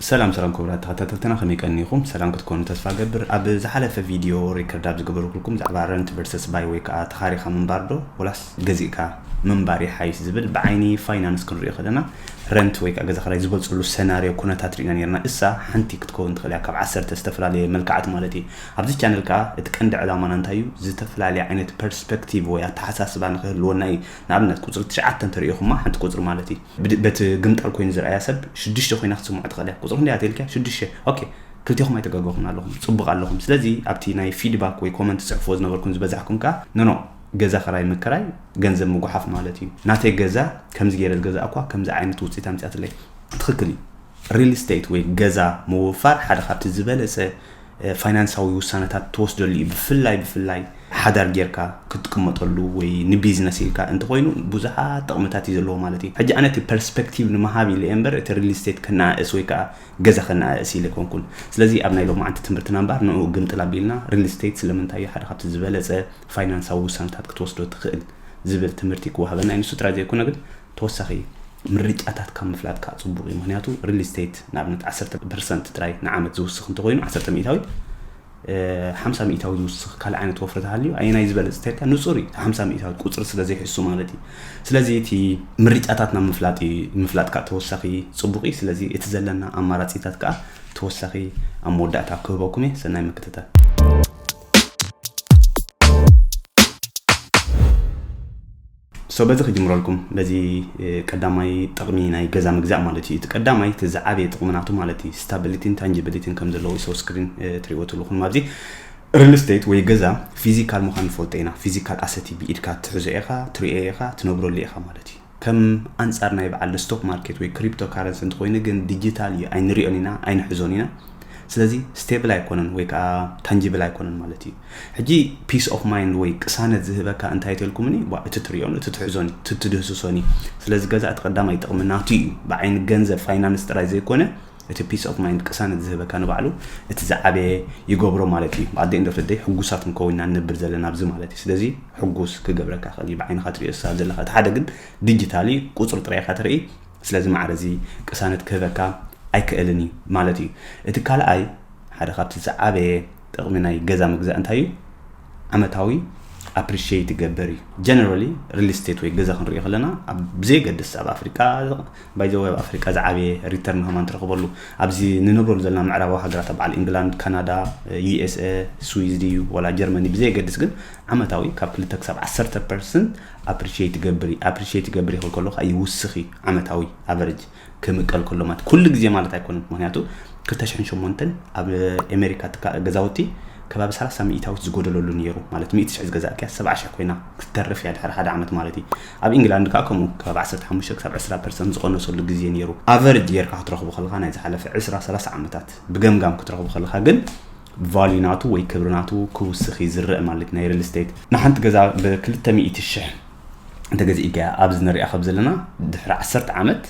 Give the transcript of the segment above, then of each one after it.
ሰላም ሰላም ክቡራት ተኸታተልትና ከመይ ቀኒኹም ሰላም ክትኮኑ ተስፋ ገብር ኣብ ዝሓለፈ ቪድዮ ሪከርድ ኣብ ዝገበርኩልኩም ዛዕባ ረንት ቨርሰስ ባይ ወይ ከዓ ተኻሪኻ ምንባር ዶ ወላስ ገዚእካ ምንባር ይሓይሽ ዝብል ብዓይኒ ፋይናንስ ክንሪኦ ከለና ረንት ወይ ከዓ ገዛ ክራይ ዝበፅሉ ሰናርዮ ኩነታት ርኢና ነርና እሳ ሓንቲ ክትከውን ትኽእል እያ ካብ ዓሰርተ ዝተፈላለየ መልክዓት ማለት እዩ ኣብዚ ቻነል ከዓ እቲ ቀንዲ ዕላማና እንታይ እዩ ዝተፈላለየ ዓይነት ፐርስፔክቲቭ ወይ ኣተሓሳስባ ንክህልወና እዩ ንኣብነት ቁፅሪ ትሽዓተ እንተሪኢኹማ ሓንቲ ቁፅሪ ማለት እዩ በቲ ግምጣል ኮይኑ ዝርኣያ ሰብ ሽዱሽተ ኮይና ክትስምዖ ትኽእል እያ። ቁጽሪ ክንደይ እያ ተልኪያ? ሽዱሽተ። ኦኬ ክልቴኹም ኣይተጋገኹምን ኣለኹም፣ ጽቡቕ ኣለኹም። ስለዚ ኣብቲ ናይ ፊድባክ ወይ ኮመንት ትጽሕፍዎ ዝነበርኩም ዝበዛሕኩም ከኣ ኖኖ ገዛ ክራይ ምክራይ ገንዘብ ምጉሓፍ ማለት እዩ። ናተይ ገዛ ከምዚ ገይረ ዝገዛእኩዋ ከምዚ ዓይነት ውጽኢት ኣምጺኣትለይ። ትኽክል እዩ ሪል ስቴት ወይ ገዛ ምውፋር ሓደ ካብቲ ዝበለጸ ፋይናንሳዊ ውሳነታት ትወስደሉ እዩ ብፍላይ ብፍላይ ሓዳር ጌርካ ክትቅመጠሉ ወይ ንቢዝነስ ኢልካ እንተኾይኑ ብዙሓት ጥቕምታት እዩ ዘለዎ ማለት እዩ ሕጂ ኣነ እቲ ፐርስፔክቲቭ ንምሃብ ኢለ እምበር እቲ ሪል ስቴት ከነኣእስ ወይ ከዓ ገዛ ከነኣእስ ኢለ ኮንኩን ስለዚ ኣብ ናይ ሎማዓንቲ ትምህርትና እምበር ንኡ ግምጥል ኣቢልና ሪል ስቴት ስለምንታይ እዩ ሓደ ካብቲ ዝበለፀ ፋይናንሳዊ ውሳነታት ክትወስዶ ትኽእል ዝብል ትምህርቲ ክወሃበና እዩ ንሱ ጥራይ ዘይኮነ ግን ተወሳኺ ምርጫታት ካብ ምፍላጥ ከኣ ጽቡቕ እዩ። ምኽንያቱ ሪል ስቴት ንኣብነት ዓሰርተ ፐርሰንት ጥራይ ንዓመት ዝውስኽ እንተኾይኑ ዓሰርተ ሚእታዊት ሓምሳ ሚእታዊ ዝውስኽ ካልእ ዓይነት ወፍሪ ተሃልዩ ኣየናይ ዝበለጽ ተልካ ንጹር እዩ። ሓምሳ ሚእታዊት ቁጽሪ ስለ ዘይሕሱ ማለት እዩ። ስለዚ እቲ ምርጫታት ናብ ምፍላጥ ምፍላጥ ከኣ ተወሳኺ ጽቡቕ እዩ። ስለዚ እቲ ዘለና ኣማራጺታት ከኣ ተወሳኺ ኣብ መወዳእታ ክህበኩም እየ። ሰናይ ምክትታል። So በዚ ክጅምረልኩም በዚ ቀዳማይ ጥቅሚ ናይ ገዛ ምግዛእ ማለት እዩ እቲ ቀዳማይ እቲ ዝዓበየ ጥቅሚ ናቱ ማለት እዩ ስታቢሊቲን ታንጂቢሊቲን ከም ዘለዎ ሰው ስክሪን ትሪእዎ ትልኹም ኣብዚ ሪል ስቴት ወይ ገዛ ፊዚካል ምዃን ንፈልጦ ኢና ፊዚካል ኣሰቲ ብኢድካ ትሕዞ ኢኻ ትሪኦ ኢኻ ትነብረሉ ኢኻ ማለት እዩ ከም ኣንጻር ናይ በዓል ስቶክ ማርኬት ወይ ክሪፕቶ ካረንሲ እንተኮይኑ ግን ዲጂታል እዩ ኣይንሪኦን ኢና ኣይንሕዞን ኢና ስለዚ ስቴብል ኣይኮነን ወይ ከዓ ታንጂብል ኣይኮነን ማለት እዩ ሕጂ ፒስ ኦፍ ማይንድ ወይ ቅሳነት ዝህበካ እንታይ ተልኩምኒ ቧእ እቲ ትሪኦን እቲ ትሕዞን እዩ እቲ ትድህስሶን እዩ ስለዚ ገዛ እቲ ቀዳማይ ጥቕሚ ናቱ እዩ ብዓይኒ ገንዘብ ፋይናንስ ጥራይ ዘይኮነ እቲ ፒስ ኦፍ ማይንድ ቅሳነት ዝህበካ ንባዕሉ እቲ ዝዓበየ ይገብሮ ማለት እዩ ብኣደ እንዶ ፍደይ ሕጉሳት ንከውና ንነብር ዘለና ኣብዚ ማለት እዩ ስለዚ ሕጉስ ክገብረካ ክእል እዩ ብዓይንኻ ትሪኦ ስሳብ ዘለካ እቲ ሓደ ግን ዲጂታል እዩ ቁፅሪ ጥራይ ኢኻ ትርኢ ስለዚ ማዕረ እዚ ቅሳነት ክህበካ ኣይክእልን እዩ ማለት እዩ እቲ ካልኣይ ሓደ ካብቲ ዝዓበየ ጥቕሚ ናይ ገዛ ምግዛእ እንታይ እዩ? ዓመታዊ ኣፕሪሽየት ይገበር እዩ ጀነራሊ ሪል ስቴት ወይ ገዛ ክንሪኦ ከለና ብዘየገድስ ኣብ ኣፍሪቃ ባይዘወ ኣብ ኣፍሪቃ ዝዓበየ ሪተርን ሃማን ትረኽበሉ ኣብዚ ንነብረሉ ዘለና ምዕራባዊ ሃገራት ኣብ በዓል ኢንግላንድ ካናዳ ዩኤስኤ ስዊዝ ድዩ ወላ ጀርመኒ ብዘየገድስ ግን ዓመታዊ ካብ ክልተ ክሳብ ዓሰርተ ፐርሰንት ኣፕሪሽየት ይገብር ኣፕሪሽየት ይገብር ይኽል ከሎ ከዓ ይውስኽ እዩ ዓመታዊ ኣቨሬጅ ክምቀል ከሎ ማለት ኩሉ ግዜ ማለት ኣይኮነን ምክንያቱ 2008 ኣብ ኣሜሪካ ትካ ገዛውቲ ከባቢ 30 ሚእታዊት ዝጎደለሉ ነይሩ ማለት 100 ሽሕ ዝገዛእ ቅያ 70 ሽሕ ኮይና ክትተርፍ እያ ድሕሪ ሓደ ዓመት ማለት እዩ ኣብ ኢንግላንድ ከዓ ከምኡ ከባቢ 15 ክሳብ 20 ፐርሰንት ዝቐነሰሉ ግዜ ነይሩ ኣቨሬጅ ጌርካ ክትረኽቡ ከለካ ናይ ዝሓለፈ 20 30 ዓመታት ብገምጋም ክትረኽቡ ከለካ ግን ቫልዩ ናቱ ወይ ክብሪ ናቱ ክውስኽ ይዝርእ ማለት ናይ ሪል ስቴት ንሓንቲ ገዛ ብ200 ሽሕ እንተገዚእካ እያ ኣብዚ ንሪኣ ካብ ዘለና ድሕሪ ዓሰርተ ዓመት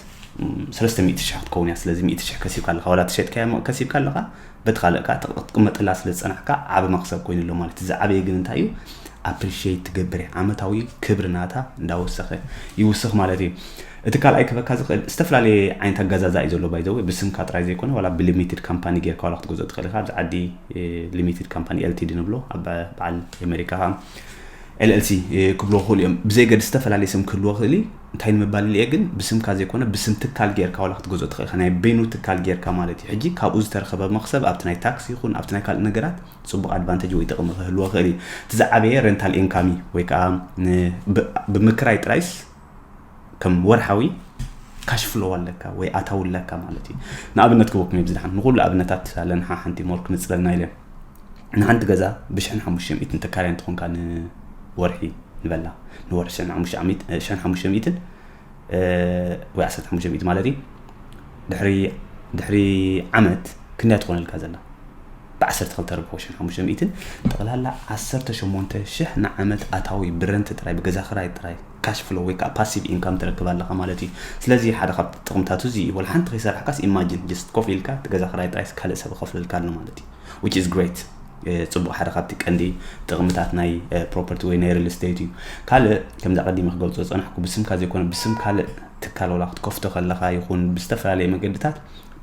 ሰለስተ ሚእቲ ሽሕ ክትከውን እያ ስለዚ ሚእቲ ሽሕ ከሲብካ ኣለካ ወላ ተሸጥካያ እሞ ከሲብካ ኣለካ በቲ ካልእ ከዓ ክትቅመጠላ ስለ ዝፀናሕካ ዓብ መክሰብ ኮይኑ ኣሎ ማለት እዚ ዓበየ ግን እንታይ እዩ ኣፕሪሽት ትገብር እያ ዓመታዊ ክብሪ ናታ እንዳወሰኸ ይውስኽ ማለት እዩ እቲ ካልኣይ ክበካ ዝኽእል ዝተፈላለየ ዓይነት ኣጋዛዛ እዩ ዘሎ ባይዘወ ብስምካ ጥራይ ዘይኮነ ዋላ ብሊሚትድ ካምፓኒ ጌርካ ዋላ ክትገዝኦ ትኽእል ኢኻ ኣብዚ ዓዲ ሊሚትድ ካምፓኒ ኤልቲዲ ንብሎ ኣብ በዓል ኣሜሪካ LLC፣ ክብልዎ ይኽእሉ እዮም። ብዘየገድስ ዝተፈላለየ ስም ክህልዎ ይኽእል እዩ። እንታይ ንምባል ኢለ'የ ግን፣ ብስምካ ዘይኮነ ብስም ትካል ጌርካ ዋላ ክትገዝኦ ትኽእል ኢኻ። ናይ በይኑ ትካል ጌርካ ማለት እዩ። ሕጂ ካብኡ ዝተረኸበ መኽሰብ ኣብቲ ናይ ታክስ ይኹን ኣብቲ ናይ ካልእ ነገራት ጽቡቕ ኣድቫንተጅ ወይ ጥቕሚ ክህልዎ ይኽእል እዩ። እቲ ዝዓበየ ሬንታል ኢንካም እዩ ወይ ከኣ ን ብምክራይ ጥራይስ ከም ወርሓዊ ካሽ ፍሎ ኣለካ ወይ ኣታዊ ኣለካ ማለት እዩ ንኣብነት ክበኩም እየ ብዝድሓን ንኩሉ ኣብነታት ኣለና ሓንቲ ሞር ክንፅለልና ኢለ ንሓንቲ ገዛ ብሽሕን ሓሙሽተ ሚእትን ተካርያ እንትኾንካ ንወርሒ ንበላ ንወርሒ ሽሕን ሓሙሽተ ሚእትን ወይ ዓሰርተ ሓሙሽተ ሚእቲ ማለት እዩ ድሕሪ ዓመት ክንደያ ትኾነልካ ዘላ ብ ዓሰርተ ክልተ ርብዒ ወሽመ ሓሙሽተ ሚእትን ጠቕላላ ዓሰርተ ሸሞንተ ሽሕ ን ዓመት ኣታዊ ብረንት ጥራይ ብገዛ ክራይ ጥራይ ካሽ ፍሎው ወይ ከኣ ፓሲቭ ኢንካም ትረክብ ኣለኻ ማለት እዩ ስለዚ ሓደ ካብ ጥቕምታቱ እዚ እዩ ወላ ሓንቲ ከይሰራሕካስ ኢማጂን ጀስት ኮፍ ኢልካ እቲ ገዛ ክራይ ጥራይስ ካልእ ሰብ ይኸፍለልካ ኣሎ ማለት እዩ which is great ፅቡቅ ሓደ ካብቲ ቀንዲ ጥቕምታት ናይ ፕሮፐርቲ ወይ ናይ ሪል ስቴት እዩ ካልእ ከምዚ ቀዲመ ክገልፆ ዝፀናሕኩ ብስምካ ዘይኮነ ብስም ካልእ ትካል ወላ ክትከፍቶ ከለካ ይኹን ብዝተፈላለየ መገድታት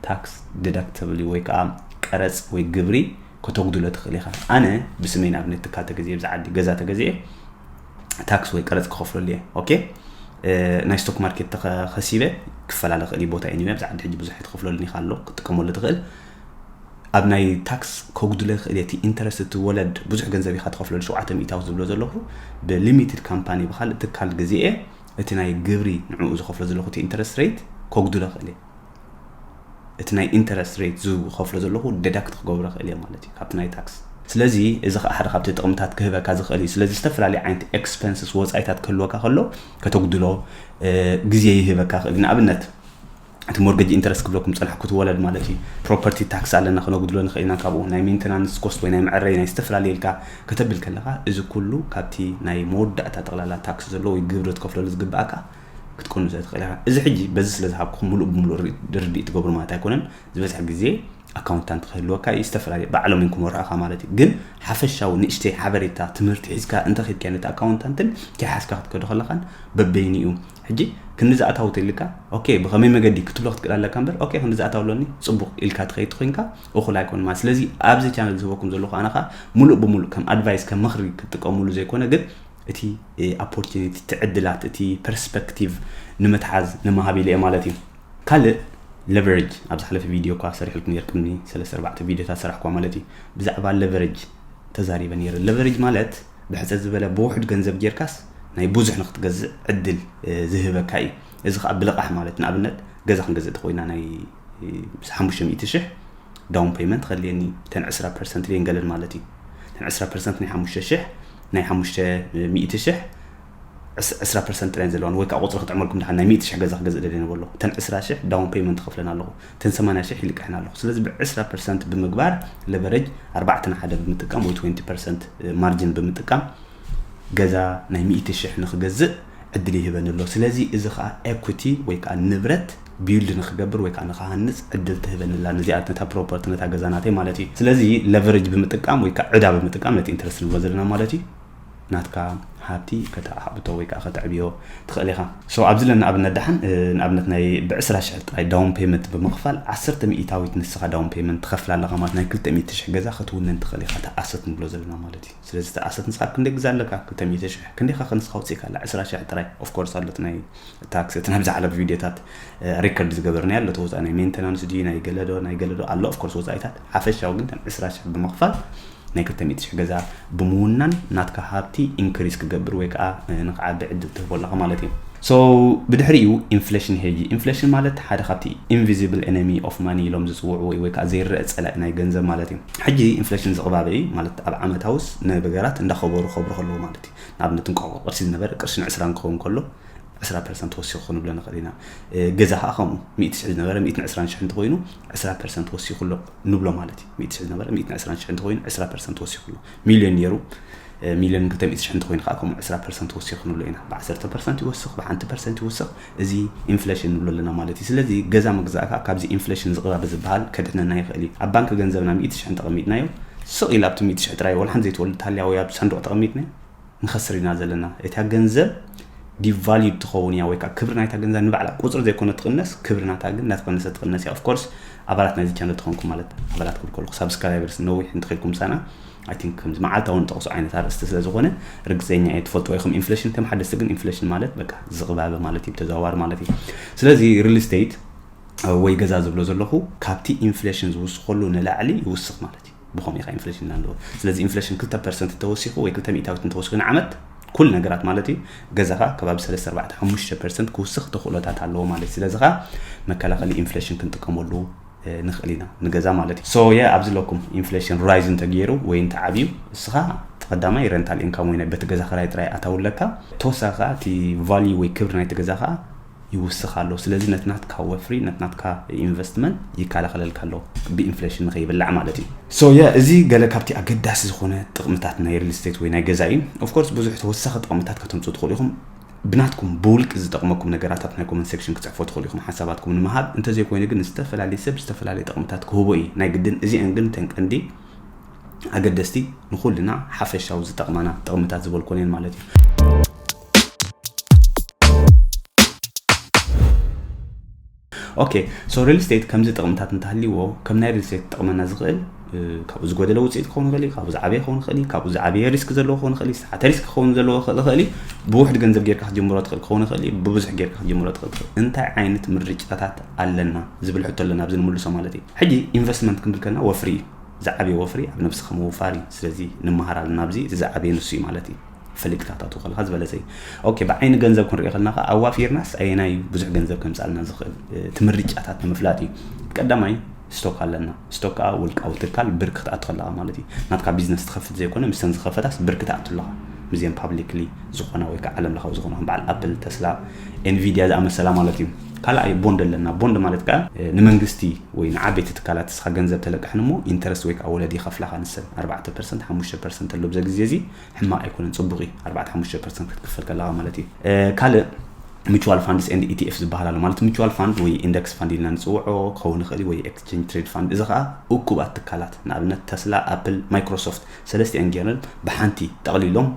ታክስ ዲዳክተብሊ ወይ ከኣ ቀረጽ ወይ ግብሪ ከተጉድሎ ትኽእል ኢኻ። ኣነ ብስመይ ንኣብነት ትካል ተገዚኤ ብዛ ዓዲ ገዛ ተገዚኤ ታክስ ወይ ቀረጽ ክኸፍለሉ እየ ኦኬ ናይ ስቶክ ማርኬት ተኸሲበ ክፈላለ ክእል እዩ ቦታ እዩ ብዛ ዓዲ ሕጂ ብዙሕ ትኸፍለሉን ኢኻ ኣሎ ክትጥቀመሉ ትኽእል ኣብ ናይ ታክስ ከጉድለ ክእል እቲ ኢንተረስት እቲ ወለድ ብዙሕ ገንዘብ ኢኻ ትኸፍለሉ ሸውዓተ ሚእታዊ ዝብሎ ዘለኹ ብሊሚትድ ካምፓኒ ብካልእ ትካል ግዜ እቲ ናይ ግብሪ ንዕኡ ዝኸፍሎ ዘለኹ እቲ ኢንተረስት ሬት ከጉድለ ክእል እየ እቲ ናይ ኢንተረስት ሬት ዝኸፍሎ ዘለኹ ደዳክት ክገብሮ ክእል እየ ማለት እዩ ካብቲ ናይ ታክስ ስለዚ እዚ ከዓ ሓደ ካብቲ ጥቕምታት ክህበካ ዝኽእል እዩ ስለዚ ዝተፈላለዩ ዓይነት ኤክስፐንስስ ወፃኢታት ክህልወካ ከሎ ከተጉድሎ ግዜ ይህበካ ክእል ንኣብነት እቲ ሞርገጅ ኢንተረስት ክብለኩም ፀንሐ ክትወለድ ማለት እዩ ፕሮፐርቲ ታክስ ኣለና ክነጉድሎ ንኽእል ኢና ካብኡ ናይ ሜንቴናንስ ኮስት ወይ ናይ መዕረይ ናይ ዝተፈላለዩ ኢልካ ከተብል ከለካ እዚ ኩሉ ካብቲ ናይ መወዳእታ ጠቕላላ ታክስ ዘለዎ ወይ ግብሪ ትከፍለሉ ዝግብኣካ ክትቅንዞ ትኽእል ኢኻ። እዚ ሕጂ በዚ ስለ ዝሃብኩኹም ምሉእ ብምሉእ ርድኢት ትገብሩ ማለት ኣይኮነን። ዝበዝሕ ግዜ ኣካውንታንት ክህልወካ እዩ፣ ዝተፈላለዩ ባዕሎም እዮም ክመርሑኻ ማለት እዩ። ግን ሓፈሻዊ ንእሽተይ ሓበሬታ ትምህርቲ ሒዝካ እንተኺድካዮ ነቲ ኣካውንታንትን ከይሓዝካ ክትከዶ ከለኻን በበይንኡ ሕጂ ክንዲ ዝኣታዊ ተልካ ኦኬ ብኸመይ መገዲ ክትብሎ ክትክእል ኣለካ እምበር ኦኬ ክንዲ ዝኣታዊ ኣሎኒ ጽቡቕ ኢልካ ትኸይድ ኮይንካ እኹል ኣይኮን ማለት ስለዚ ኣብዚ ቻነል ዝህበኩም ዘለኹ ኣነ ከዓ ምሉእ ብምሉእ ከም ኣድቫይስ ከም ምኽሪ ክትጥቀምሉ ዘይኮነ ግን እቲ ኣፖርቲኒቲ እቲ ዕድላት እቲ ፐርስፐክቲቭ ንምትሓዝ ንምሃብ ኢለ እየ ማለት እዩ ካልእ ለቨረጅ ኣብ ዝሓለፈ ቪድዮ እኳ ሰሪሕልኩም ነር ቅድሚ ሰለስተ ኣርባዕተ ቪድዮታት ሰራሕኳ ማለት እዩ ብዛዕባ ለቨረጅ ተዛሪበ ነይረ ለቨረጅ ማለት ብሕፀት ዝበለ ብውሕድ ገንዘብ ጌርካስ ናይ ብዙሕ ንክትገዝእ ዕድል ዝህበካ እዩ እዚ ከዓ ብልቓሕ ማለት ንኣብነት ገዛ ክንገዝእ ተኮይና ናይ ሓሙሽተ ሚእቲ ሽሕ ዳውን ፔመንት ከድልየኒ ተን ዕስራ ፐርሰንት ልየን ገለን ማለት እዩ ተን ዕስራ ፐርሰንት ናይ ሓሙሽተ ሽሕ ናይ ሓሙሽተ ሚእቲ ሽሕ ዕስ ዕስራ ፐርሰንት ጥራይ እየን ዘለዋኒ ወይ ከዓ ቁፅሪ ክጥዕመልኩም ድሓን ናይ ሚእቲ ሽሕ ገዛ ክገዝእ ደልየ ነበሎ እተን ዕስራ ሽሕ ዳውን ፔይመንት ክኽፍለን ኣለኹ እተን ሰማንያ ሽሕ ይልቅሕን ኣለኹ ስለዚ ብዕስራ ፐርሰንት ብምግባር ለቨረጅ ኣርባዕተ ንሓደ ብምጥቃም ወይ ትወንቲ ፐርሰንት ማርጅን ብምጥቃም ገዛ ናይ ሚእቲ ሽሕ ንክገዝእ ዕድል ይህበኒ ኣሎ ስለዚ እዚ ከዓ ኤኩቲ ወይ ከዓ ንብረት ቢውልድ ንክገብር ወይ ከዓ ንክሃንፅ ዕድል ትህበኒ ኣላ ንዚኣ ነታ ፕሮፐርቲ ነታ ገዛ ናተይ ማለት እዩ ስለዚ ለቨረጅ ብምጥቃም ወይ ከዓ ዕዳ ብምጥቃም ነቲ ኢንተረስት ንብሎ ዘለና ማለት እዩ ናትካ ሃብቲ ከተዓብቶ ወይ ከዓ ከተዕብዮ ትኽእል ኢኻ ሶ ኣብዚ ለና ኣብነት ደሓን ንኣብነት ናይ ብዕስራ ሽሕ ጥራይ ዳውን ፔመንት ብምኽፋል ዓሰርተ ሚኢታዊት ንስኻ ዳውን ፔመንት ትኸፍል ኣለኻ ማለት ናይ ክልተ ሚእቲ ሽሕ ገዛ ክትውንን ትኽእል ኢኻ እቲ ኣሰት ንብሎ ዘለና ማለት እዩ ስለዚ እቲ ኣሰት ንስኻ ክንደይ ግዛ ኣለካ ክልተ ሚእቲ ሽሕ ክንደይኻ ከ ንስኻ ውፅኢካ ኣላ ዕስራ ሽሕ ጥራይ ኦፍኮርስ ኣሎት ናይ እታ ክሰትን ኣብ ዝሓለፉ ቪድዮታት ሪከርድ ዝገበርናያ ኣሎ ተወፃኢ ናይ ሜንቴናንስ ድዩ ናይ ገለዶ ናይ ገለዶ ኣሎ ኦፍኮርስ ወፃኢታት ሓፈሻዊ ግን ከም ዕስራ ሽሕ ብምኽፋል ናይ ክልተ ሚእቲ ሽሕ ገዛ ብምውናን ናትካ ሃብቲ ኢንክሪስ ክገብር ወይ ከዓ ንክዓቢ ዕድል ትህቦ ኣለኻ ማለት እዩ ሶ ብድሕሪኡ ኢንፍሌሽን ሄጂ ኢንፍሌሽን ማለት ሓደ ካብቲ ኢንቪዚብል ኤነሚ ኦፍ ማኒ ኢሎም ዝፅውዕዎ እዩ ወይ ከዓ ዘይረአ ፀላኢ ናይ ገንዘብ ማለት እዩ ሕጂ ኢንፍሌሽን ዝቕባበ እዩ ማለት ኣብ ዓመታውስ ነገራት እንዳኸበሩ ከብሩ ከለዉ ማለት እዩ ንኣብነት እንቋቑ ቅርሲ ዝነበረ ቅርሺ ንዕስራን ክኸውን ከሎ ዕስራ ፐርሰንት ወሲኹ ንብሎ ንኽእል ኢና። ገዛ ከዓ ከምኡ ሚእቲ ሽሕ ዝነበረ ሚእትን ዕስራን ሽሕ እንተኾይኑ ዕስራ ፐርሰንት ወሲኹ ኣሎ ንብሎ ማለት እዩ። ሚእቲ ሽሕ ዝነበረ ሚእትን ዕስራን ሽሕ እንተኾይኑ ዕስራ ፐርሰንት ወሲኹ ኣሎ። ሚልዮን ነይሩ ሚልዮን ክልተ ሚእቲ ሽሕ እንተኾይኑ ከዓ ከምኡ ዕስራ ፐርሰንት ወሲኹ ንብሎ ኢና። ብዓሰርተ ፐርሰንት ይወስኽ ብሓንቲ ፐርሰንት ይወስኽ እዚ ኢንፍሌሽን ንብሎ ኣለና ማለት እዩ። ስለዚ ገዛ ምግዛእ ከዓ ካብዚ ኢንፍሌሽን ዝቕባበ ዝበሃል ከድሕነና ይኽእል እዩ። ኣብ ባንኪ ገንዘብና ሚእቲ ሽሕ እንተቐሚጥናዮ ስቕ ኢሉ ኣብቲ ሚእቲ ሽሕ ጥራይ ወላ ሓንቲ ዘይትወልድ ተሃልያ ወይ ኣብ ሳንዱቕ ተቐሚጥናዮ ንኸስር ኢና ዘለና እታ ገንዘብ ዲቫልዩድ ትኸውን እያ ወይ ከዓ ክብሪ ናይታ ገንዘብ ንባዕላ ቁፅሪ ዘይኮነ ትቕነስ ክብሪ ናታ ግን እናተቐነሰ ትቕነስ እያ ኦፍኮርስ ኣባላት ናይዚ ቻነል ተኾንኩም ማለት ኣባላት ክብል ከለኹ ሳብስክራይበርስ ነዊሕ እንትኽኢልኩም ምሳና ኣይ ቲንክ ከምዚ መዓልታዊ ንጠቕሶ ዓይነት ኣርእስቲ ስለ ዝኾነ ርግፀኛ እየ ትፈልጥዎ ኢኹም ኢንፍሌሽን ከም ሓደስቲ ግን ኢንፍሌሽን ማለት በቃ ዝቕባበ ማለት እዩ ተዘዋዋሪ ማለት እዩ ስለዚ ሪል ስቴት ወይ ገዛ ዝብሎ ዘለኹ ካብቲ ኢንፍሌሽን ዝውስኸሉ ንላዕሊ ይውስኽ ማለት እዩ ብኸምኡ ኢኻ ኢንፍሌሽን ኢልና ንብሎ። ስለዚ ኢንፍሌሽን ክልተ ፐርሰንት እንተወሲኹ ወይ ክልተ ሚእታዊት እንተወሲኹ ንዓመት ኩል ነገራት ማለት እዩ ገዛኻ ከባቢ ሰለስተ ኣርባዕተ ሓሙሽተ ፐርሰንት ክውስኽ ተኽእሎታት ኣለዎ ማለት እዩ። ስለዚ ኸኣ መከላኸሊ ኢንፍሌሽን ክንጥቀመሉ ንኽእል ኢና ንገዛ ማለት እዩ። ሶ የ ኣብዚ ኣለኩም ኢንፍሌሽን ራይዝ እንተገይሩ ወይ እንተዓብዩ እስኻ እቲ ቀዳማይ ረንታል ኢንካም ወይ ናይ በቲ ገዛ ክራይ ጥራይ ኣታዊ ኣለካ። ተወሳኺ ኸኣ እቲ ቫልዩ ወይ ክብሪ ናይቲ ገዛ ኸኣ ይውስኽ ኣሎ። ስለዚ ነቲ ናትካ ወፍሪ ነቲ ናትካ ኢንቨስትመንት ይከላኸለልካ ኣሎ ብኢንፍሌሽን ንኸይብላዕ ማለት እዩ። ሶ ያ እዚ ገለ ካብቲ ኣገዳሲ ዝኾነ ጥቕምታት ናይ ሪል ስቴት ወይ ናይ ገዛ እዩ። ኦፍ ኮርስ ብዙሕ ተወሳኺ ጥቕምታት ከተምጽኡ ትኽእሉ ኢኹም። ብናትኩም ብውልቂ ዝጠቕመኩም ነገራት ኣብቲ ናይ ኮመንት ሴክሽን ክትጽሕፉ ትኽእሉ ኢኹም ሓሳባትኩም ንምሃብ። እንተዘይኮይኑ ግን ዝተፈላለየ ሰብ ዝተፈላለየ ጥቕምታት ክህቦ እዩ ናይ ግድን። እዚኤን ግን እተን ቀንዲ ኣገደስቲ ንኹልና ሓፈሻዊ ዝጠቕማና ጥቕምታት ዝበልኩወን እየን ማለት እዩ። ኦኬ ሶ ሪል ስቴት ከምዚ ጥቕምታት እንተሃልይዎ ከም ናይ ሪል ስቴት ክጠቕመና ዝኽእል ካብኡ ዝጎደለ ውፅኢት ክኸውን ይኽእል እዩ ካብኡ ዝዓበየ ክኸውን ይኽእል እዩ ካብኡ ዝዓበየ ሪስክ ዘለዎ ክኸውን ይኽእል እዩ ዝተሓተ ሪስክ ክኸውን ዘለዎ ይኽእል እዩ ብውሕድ ገንዘብ ጌርካ ክትጀምሮ ትኽእል ክኸውን ይኽእል እዩ ብብዙሕ ጌርካ ክትጀምሮ ትኽእል ትኽእል እንታይ ዓይነት ምርጫታት ኣለና ዝብል ሕቶ ኣለና ኣብዚ ንምልሶ ማለት እዩ ሕጂ ኢንቨስትመንት ክንብል ከለና ወፍሪ እዩ ዝዓበየ ወፍሪ ኣብ ነብስኻ ምውፋር እዩ ስለዚ ንመሃር ኣለና ኣብዚ እቲ ዝዓበየ ንሱ እዩ ማለት እዩ ፍልግታታቱ ከለካ ዝበለጸ እዩ ኦኬ ብዓይኒ ገንዘብ ክንሪኦ ከለና ከ ኣዋፊርናስ ኣየናይ እዩ ብዙሕ ገንዘብ ከምጻልና ዝኽእል እቲ ምርጫታት ንምፍላጥ እዩ ቀዳማይ ስቶክ ኣለና ስቶክ ከዓ ውልቃዊ ትካል ብር ክትኣቱ ከለካ ማለት እዩ ናትካ ቢዝነስ ትኸፍት ዘይኮነ ምስተን ዝኸፈታስ ብር ክትኣቱ ኣለካ ምስዚም ፓብሊክሊ ዝኾና ወይ ከዓ ዓለም ለኻዊ ዝኾና በዓል ኣፕል ተስላ ኤንቪድያ ዝኣመሰላ ማለት እዩ ካልኣይ ቦንድ ኣለና ቦንድ ማለት ከዓ ንመንግስቲ ወይ ንዓበይቲ ትካላት ስኻ ገንዘብ ተለቅሕን እሞ ኢንተረስት ወይ ከዓ ወለድ ይኸፍላኻ ንሰን ኣርባዕተ ፐርሰንት ሓሙሽተ ፐርሰንት ኣሎ ብዘ ግዜ እዚ ሕማቅ ኣይኮነን ፅቡቅ እዩ ኣርባዕተ ሓሙሽተ ፐርሰንት ክትክፈል ከለካ ማለት እዩ ካልእ ሚቹዋል ፋንድስ ኤንድ ኢቲኤፍ ዝበሃል ኣሎ ማለት ሚቹዋል ፋንድ ወይ ኢንደክስ ፋንድ ኢልና ንፅውዖ ክኸውን ይኽእል ወይ ኤክስቼንጅ ትሬድ ፋንድ እዚ ከዓ እኩባት ትካላት ንኣብነት ተስላ ኣፕል ማይክሮሶፍት ሰለስቲአን ጌረን ብሓንቲ ጠቕሊሎም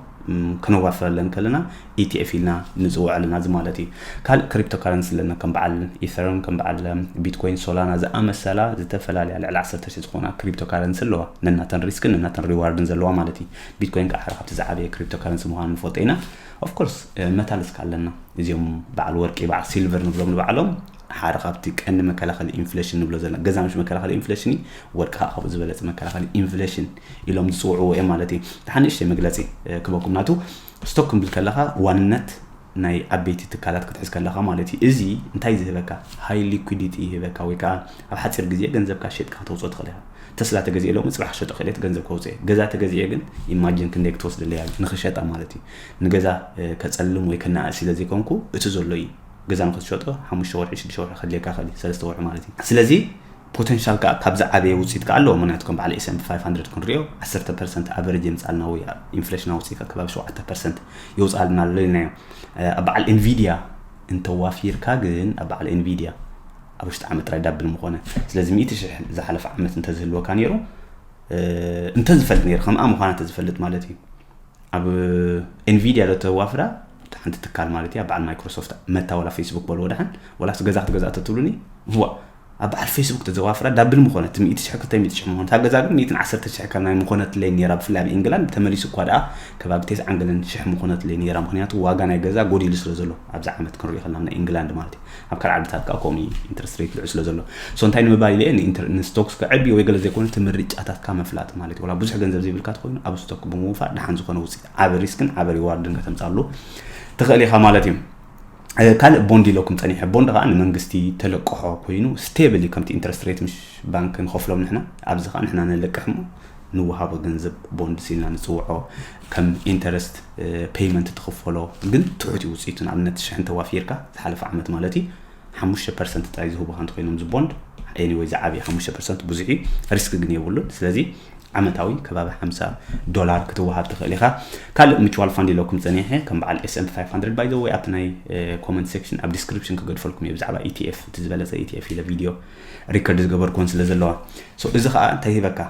ክነዋፍረለን ከለና ኢቲኤፍ ኢልና ንፅውዖ ኣለና እዚ ማለት እዩ ካልእ ክሪፕቶ ካረንሲ ኣለና ከም በዓል ኢተረም ከም በዓል ቢትኮይን ሶላና ዝኣመሰላ ዝተፈላለያ ልዕሊ 1 ሺ ዝኾና ክሪፕቶ ካረንሲ ኣለዋ ነናተን ሪስክን ነናተን ሪዋርድን ዘለዋ ማለት እዩ ቢትኮይን ከኣ ሓደ ካብቲ ዝዓበየ ክሪፕቶ ካረንሲ ምዃኑ ንፈልጦ ኢና። ኦፍ ኮርስ መታልስ ከኣ ኣለና። እዚኦም በዓል ወርቂ በዓል ሲልቨር ንብሎም ንባዕሎም ሓደ ካብቲ ቀንዲ መከላኸሊ ኢንፍሌሽን ንብሎ ዘለና ገዛ ምሽ መከላኸሊ ኢንፍሌሽን እዩ ወርቂ ከዓ ካብኡ ዝበለፀ መከላኸሊ ኢንፍሌሽን ኢሎም ዝፅውዕዎ እዮም ማለት እዩ። ሓንእሽተይ መግለፂ ክበኩም ናቱ ስቶክ ክንብል ከለኻ ዋንነት ናይ ዓበይቲ ትካላት ክትሕዝ ከለኻ ማለት እዩ። እዚ እንታይ እዩ ዝህበካ? ሃይ ሊኩዲቲ ይህበካ ወይ ከኣ ኣብ ሓጺር ግዜ ገንዘብካ ሸጥካ ከተውጽኦ ትኽእል ኢኻ። ተስላ ተገዚኤ ሎሚ ጽባሕ ክሸጦ ክእል እየ እቲ ገንዘብ ከውጽኤ። ገዛ ተገዚኤ ግን ኢማጂን ክንደይ ክትወስደለይ ኣላ ንኽሸጣ ማለት እዩ። ንገዛ ከጸልም ወይ ከነኣእስ ኢለ ዘይኮንኩ እቲ ዘሎ እዩ። ገዛ ንኽትሸጦ ሓሙሽተ ወርሒ ሽዱሽተ ወርሒ ከድልየካ ይኽእል እዩ፣ ሰለስተ ወርሒ ማለት እዩ። ስለዚ። ፖተንሻል ከኣ ካብ ዝዓበየ ውጽኢት ከኣ ኣለዎ ምክንያቱ ከም በዓል ኤስኤምፒ ፋይፍ ሃንድረድ ክንሪኦ ዓሰርተ ፐርሰንት ኣቨረጅ የምጽኣልና ወይ ኢንፍሌሽናዊ ውጽኢት ኣብ ከባቢ ሸውዓተ ፐርሰንት የውጽኣልና ኣሎ ኢልናዮ ኣብ በዓል ኤንቪድያ እንተዋፊርካ ግን ኣብ በዓል ኤንቪድያ ኣብ ውሽጢ ዓመት ጥራይ ዳብል ምኾነ ስለዚ ሚእቲ ሽሕ ዝሓለፈ ዓመት እንተዝህልወካ ነይሩ እንተዝፈልጥ ነይሩ ከምኣ ምዃና እንተዝፈልጥ ማለት እዩ ኣብ ኤንቪድያ ዶ ተዋፍራ ሓንቲ ትካል ማለት እያ በዓል ማይክሮሶፍት መታ ወላ ፌስቡክ በልዎ ድሓን ወላስ ገዛ ክትገዛ ተትብሉኒ ዋ ኣብ በዓል ፌስቡክ ተዘዋፍራ ዳብል ምኾነት፣ ሚእቲ ሽሕ ክልተ ሚእቲ ሽሕ ምኾነት፣ ኣብ ገዛ ግን ሚእትን ዓሰርተ ሽሕ ከም ናይ ምኾነትለይ ኔራ ብፍላይ ኣብ ኢንግላንድ ተመሊሱ እኳ ደኣ ከባቢ ቴስዓን ገለን ሽሕ ምኾነትለይ ኔራ ምኽንያቱ ዋጋ ናይ ገዛ ጎዲሉ ስለ ዘሎ ኣብዚ ዓመት ክንሪኦ ከለና ናይ ኢንግላንድ ማለት እዩ ኣብ ካልእ ዓድታት ከኣ ከምኡ እዩ ኢንትረስት ሬት ልዑል ስለ ዘሎ ሶ እንታይ ንምባል ኢለ ንስቶክስ ከዕቢ ወይ ገለ ዘይኮነ እቲ ምርጫታትካ ምፍላጥ ማለት እዩ ወላ ብዙሕ ገንዘብ ዘይብልካ ትኮይኑ ኣብ ስቶክ ብምውፋር ደሓን ዝኾነ ውፅኢት ዓቢ ሪስክን ዓቢ ሪዋርድን ከተምፃሉ ትኽእል ኢኻ ማለት እዩ ካልእ ቦንድ ኢለኩም ጸኒሐ ቦንድ ከዓ ንመንግስቲ ተለቅሖ ኮይኑ ስቴብል እዩ ከምቲ ኢንትረስት ሬት ምሽ ባንክ ንኸፍሎም ንሕና ኣብዚ ከዓ ንሕና ነለቅሕ እሞ ንወሃቦ ገንዘብ ቦንድ ሲልና ንፅውዖ ከም ኢንተረስት ፔይመንት ትኽፈሎ ግን ትሑት እዩ ውፅኢቱ ንኣብነት ሽሕ እንተዋፊርካ ዝሓለፈ ዓመት ማለት እዩ ሓሙሽተ ፐርሰንት ጥራይ ዝህቡካ እንተኮይኖም ዝቦንድ ኤኒወይ ዝዓብየ ሓሙሽተ ፐርሰንት ብዙሕ እዩ ሪስክ ግን የብሉን ስለዚ ዓመታዊ ከባቢ ሓምሳ ዶላር ክትወሃብ ትኽእል ኢኻ ካልእ ምቹዋል ፋንድ ኢለኩም ጸኒሐ ከም በዓል ኤስኤምፒ 500 ባይ ዘ ወይ ኣብቲ ናይ ኮመንት ሴክሽን ኣብ ዲስክሪፕሽን ክገድፈልኩም እየ ብዛዕባ ኢቲኤፍ እቲ ዝበለጸ ኢቲኤፍ ኢለ ቪድዮ ሪከርድ ዝገበርኩዎን ስለ ዘለዋ እዚ ከዓ እንታይ ሂበካ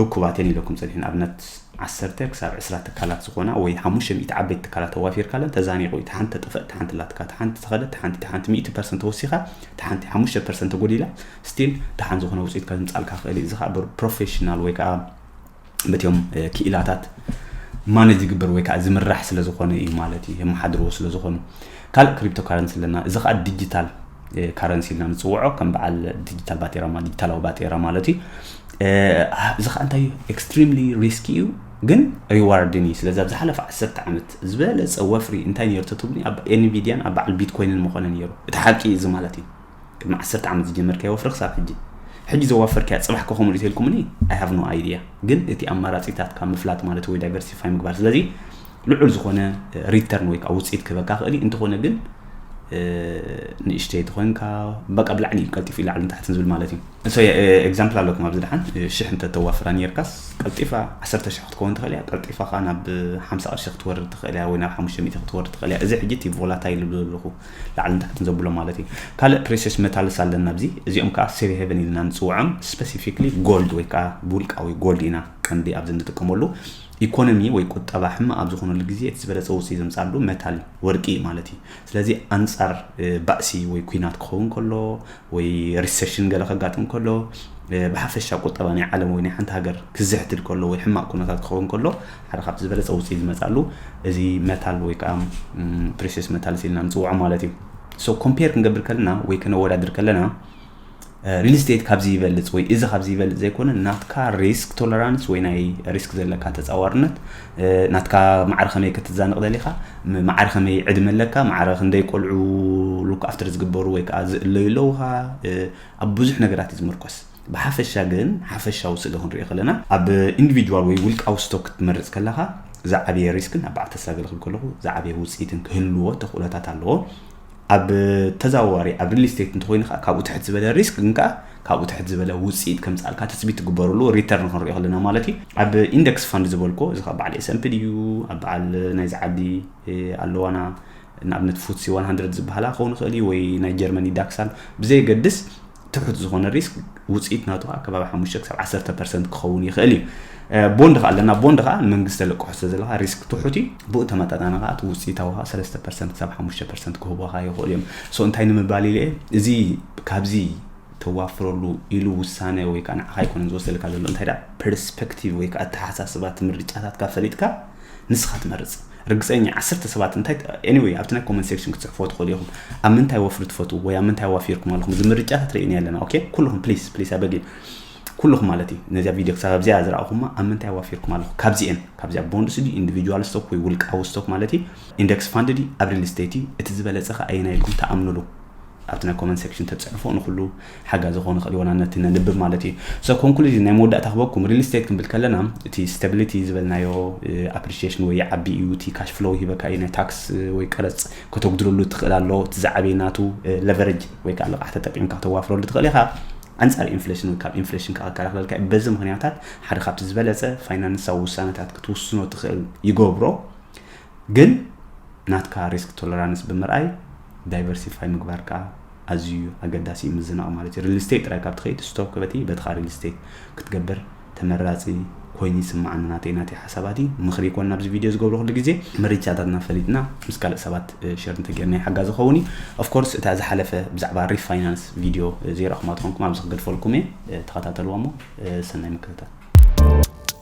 እኩባት እየን ኢለኩም ጸኒሐ ንኣብነት ዓሰርተ ክሳብ ዕስራ ትካላት ዝኾና ወይ ሓሙሽተ ሚእቲ ዓበይቲ ትካላት ተዋፊርካለን ተዛኒቑ እዩ ተሓንቲ ተጠፍእ ተሓንቲ ላትካ ተሓንቲ ተኸደት ተሓንቲ ተሓንቲ ሚእቲ ፐርሰንት ተወሲኻ ተሓንቲ ሓሙሽተ ፐርሰንት ተጎዲላ ስቲል ደሓን ዝኾነ ውፅኢት ከምፃልካ ክእል እዩ እዚ ከዓ ብፕሮፌሽናል ወይ ከዓ በትዮም ክኢላታት ማነጅ ዝግበር ወይ ከዓ ዝምራሕ ስለ ዝኾነ እዩ ማለት እዩ የመሓድርዎ ስለ ዝኾኑ ካልእ ክሪፕቶ ካረንሲ ኣለና እዚ ከዓ ዲጂታል ካረንሲ ኢልና ንፅውዖ ከም በዓል ዲጂታል ባጤራ ዲጂታላዊ ባጤራ ማለት እዩ እዚ ከዓ እንታይ እዩ ኤክስትሪምሊ ሪስኪ እዩ ግን ሪዋርድን እዩ ስለዚ ኣብ ዝሓለፈ ዓሰርተ ዓመት ዝበለፀ ወፍሪ እንታይ ነይሩ ተትብሉኒ ኣብ ኤንቪድያን ኣብ በዓል ቢትኮይንን ምኾነ ነይሩ እቲ ሓቂ እዚ ማለት እዩ ቅድሚ ዓሰርተ ዓመት ዝጀመርካዮ ወፍሪ ክሳብ ሕጂ ሕጂ ዘዋፈርካያ ፅባሕ ከ ከምኡ ሪቴልኩምኒ ኣይ ሃቭ ኖ ኣይድያ ግን እቲ ኣማራፂታትካ ምፍላጥ ማለት ወይ ዳይቨርሲፋይ ምግባር ስለዚ ልዑል ዝኾነ ሪተርን ወይ ከዓ ውፅኢት ክህበካ ክእል እዩ እንተኾነ ግን ንእሽተይ ተኮንካ በቃ ብላዕሊ እዩ ቀልጢፉ እዩ ላዕልን ታሕትን ዝብል ማለት እዩ ሰ ኤግዛምፕል ኣለኩም ኣብዚ ድሓን ሽሕ እንተ ተዋፍራ ነርካስ ቀልጢፋ 1 ሽሕ ክትከውን ትኽእል እያ ቀልጢፋ ከዓ ናብ 50 ቅርሺ ክትወርድ ትኽእል እያ ወይ ናብ 500 ክትወርድ ትኽእል እያ እዚ ሕጂ እቲ ቮላታይል ዝብሎ ኣለኹ ላዕልን ታሕትን ዘብሎም ማለት እዩ ካልእ ፕሬሴስ መታልስ ኣለና ኣብዚ እዚኦም ከዓ ሴሪ ሄቨን ኢልና ንፅውዖም ስፔሲፊክሊ ጎልድ ወይ ከዓ ብውልቃዊ ጎልድ ኢና ቀንዲ ኣብዚ እንጥቀመሉ ኢኮኖሚ ወይ ቁጠባ ሕማቅ ኣብ ዝኾነሉ ግዜ እቲ ዝበለፀ ውፅኢት ዘምፅኣሉ መታል ወርቂ እዩ ማለት እዩ ስለዚ ኣንፃር ባእሲ ወይ ኩናት ክኸውን ከሎ ወይ ሪሴሽን ገለ ከጋጥም ከሎ ብሓፈሻ ቁጠባ ናይ ዓለም ወይ ናይ ሓንቲ ሃገር ክዝሕትል ከሎ ወይ ሕማቅ ኩነታት ክኸውን ከሎ ሓደ ካብቲ ዝበለፀ ውፅኢት ዝመፅኣሉ እዚ መታል ወይ ከዓ ፕሪሴስ መታልስ ኢልና ንፅውዖ ማለት እዩ ሶ ኮምፔር ክንገብር ከለና ወይ ከነወዳድር ከለና ሪል ስቴት ካብዚ ይበልፅ ወይ እዚ ካብዚ ይበልፅ ዘይኮነ ናትካ ሪስክ ቶለራንስ ወይ ናይ ሪስክ ዘለካ ተፃዋርነት ናትካ ማዕረ ከመይ ክትዛንቕ ደሊኻ ማዕረ ከመይ ዕድመ ኣለካ ማዕረ ክንደይ ቆልዑ ሉክ ኣፍተር ዝግበሩ ወይ ከዓ ዝእለዩ ኣለውኻ ኣብ ብዙሕ ነገራት እዩ ዝምርኮስ ብሓፈሻ ግን ሓፈሻዊ ስእሊ ክንሪኦ ከለና ኣብ ኢንዲቪድዋል ወይ ውልቃዊ ስቶክ ክትመርጽ ከለኻ ዝዓበየ ሪስክን ኣብ በዓል ተስላ ገለኽል ከለኹ ዝዓበየ ውፅኢትን ክህልዎ ተኽእሎታት ኣለዎ ኣብ ተዛዋዋሪ ኣብ ሪል ስቴት እንተኮይኑ ከዓ ካብኡ ትሕት ዝበለ ሪስክ ግን ከዓ ካብኡ ትሕት ዝበለ ውፅኢት ከምፃልካ ትፅቢት ትግበርሉ ሪተርን ክንሪኦ ከለና ማለት እዩ ኣብ ኢንደክስ ፋንድ ዝበልኮ እዚ ካብ በዓል ኤስምፒ ድዩ ኣብ በዓል ናይዚ ዓዲ ኣለዋና ንኣብነት ፉትሲ 100 ዝበሃላ ክኸውን ይኽእል እዩ ወይ ናይ ጀርመኒ ዳክሳል ብዘየገድስ ትሑት ዝኾነ ሪስክ ውፅኢት ናቱ ከዓ ከባቢ ሓሙሽተ ክሳብ ዓሰርተ ፐርሰንት ክኸውን ይኽእል እዩ ቦንድ ከዓ ኣለና ቦንድ ከዓ ንመንግስቲ ተለቅሖ ስለ ዘለካ ሪስክ ትሑት እዩ ብኡ ተመጣጣኒ ከዓ እቲ ውፅኢታዊ ከዓ ሰለስተ ፐርሰንት ክሳብ ሓሙሽተ ፐርሰንት ክህቡካ ይኽእሉ እዮም ሶ እንታይ ንምባል ኢለ እዚ ካብዚ ተዋፍረሉ ኢሉ ውሳነ ወይ ከዓ ንዓኻ ኣይኮነን ዝወሰልካ ዘሎ እንታይ ዳ ፐርስፔክቲቭ ወይ ከዓ ኣተሓሳስባ እቲ ምርጫታትካ ፈሊጥካ ንስኻ ትመርፅ ርግጸኛ ዓሰርተ ሰባት እንታይ ኤኒወይ ኣብቲ ናይ ኮመንት ሴክሽን ክትጽሕፍዎ ትኽእሉ ኢኹም ኣብ ምንታይ ወፍሪ ትፈትዉ ወይ ኣብ ምንታይ ዋፊርኩም ኣለኹም እዚ ምርጫታት ርእይና ኣለና ኦኬ ኩልኹም ፕሊስ ፕሊስ ኣበጊ ኩልኹም ማለት እዩ ነዚኣ ቪድዮ ክሳብ ኣብዚኣ ዝረኣኹማ ኣብ ምንታይ ዋፊርኩም ኣለኹ ካብዚኤን ካብዚኣ ቦንድስ ድዩ ኢንዲቪጁዋል ስቶክ ወይ ውልቃዊ ስቶክ ማለት እዩ ኢንደክስ ፋንድ ድዩ ኣብ ሪል ስቴት እዩ እቲ ዝበለፀ ከ ኣየና ኢልኩም ተኣምንሉ ኣብቲ ናይ ኮመንት ሴክሽን ተጽሕፎ ንኩሉ ሓጋዚ ክኮን ይክእል ይኮና ነቲ ነንብብ ማለት እዩ so ኮንክሉዥን ናይ መወዳእታ ክበኩም ሪል ስቴት ክንብል ከለና እቲ ስታቢሊቲ ዝበልናዮ ኣፕሪሺዬሽን ወይ ይዓቢ እዩ እቲ ካሽ ፍሎው ሂበካ እዩ ናይ ታክስ ወይ ቀረጽ ከተጉድለሉ ትኽእል ኣሎ እቲ ዝዓበየ ናቱ ለቨረጅ ወይ ከዓ ልቓሕ ተጠቂምካ ተዋፍረሉ ትኽእል ኢኻ ኣንጻር ኢንፍሌሽን ወይ ካብ ኢንፍሌሽን ከዓ ክከላኸለልካ እዩ በዚ ምክንያታት ሓደ ካብቲ ዝበለጸ ፋይናንሳዊ ውሳነታት ክትውስኖ ትኽእል ይገብሮ ግን ናትካ ሪስክ ቶለራንስ ብምርኣይ ዳይቨርሲፋይ ምግባርካ ኣዝዩ ኣገዳሲ እዩ ምዝናቕ ማለት እዩ ሪል ስቴት ጥራይ ካብ ትኸይድ ስቶክ ክበቲ በትኻ ሪል ስቴት ክትገብር ተመራፂ ኮይኑ ይስምዓኒ ናተይ ናተይ ሓሳባት እዩ ምኽሪ ይኮን ናብዚ ቪድዮ ዝገብሮ ኩሉ ግዜ መሪቻታትና ፈሊጥና ምስ ካልእ ሰባት ሸር እንተጌርና ይሓጋ ዝኸውን እዩ ኦፍኮርስ እታ ዝሓለፈ ብዛዕባ ሪፋይናንስ ቪድዮ ዘይረእኹማ ትኾንኩም ኣብዚ ክገድፈልኩም እየ ተኸታተልዋ እሞ ሰናይ ምክትታል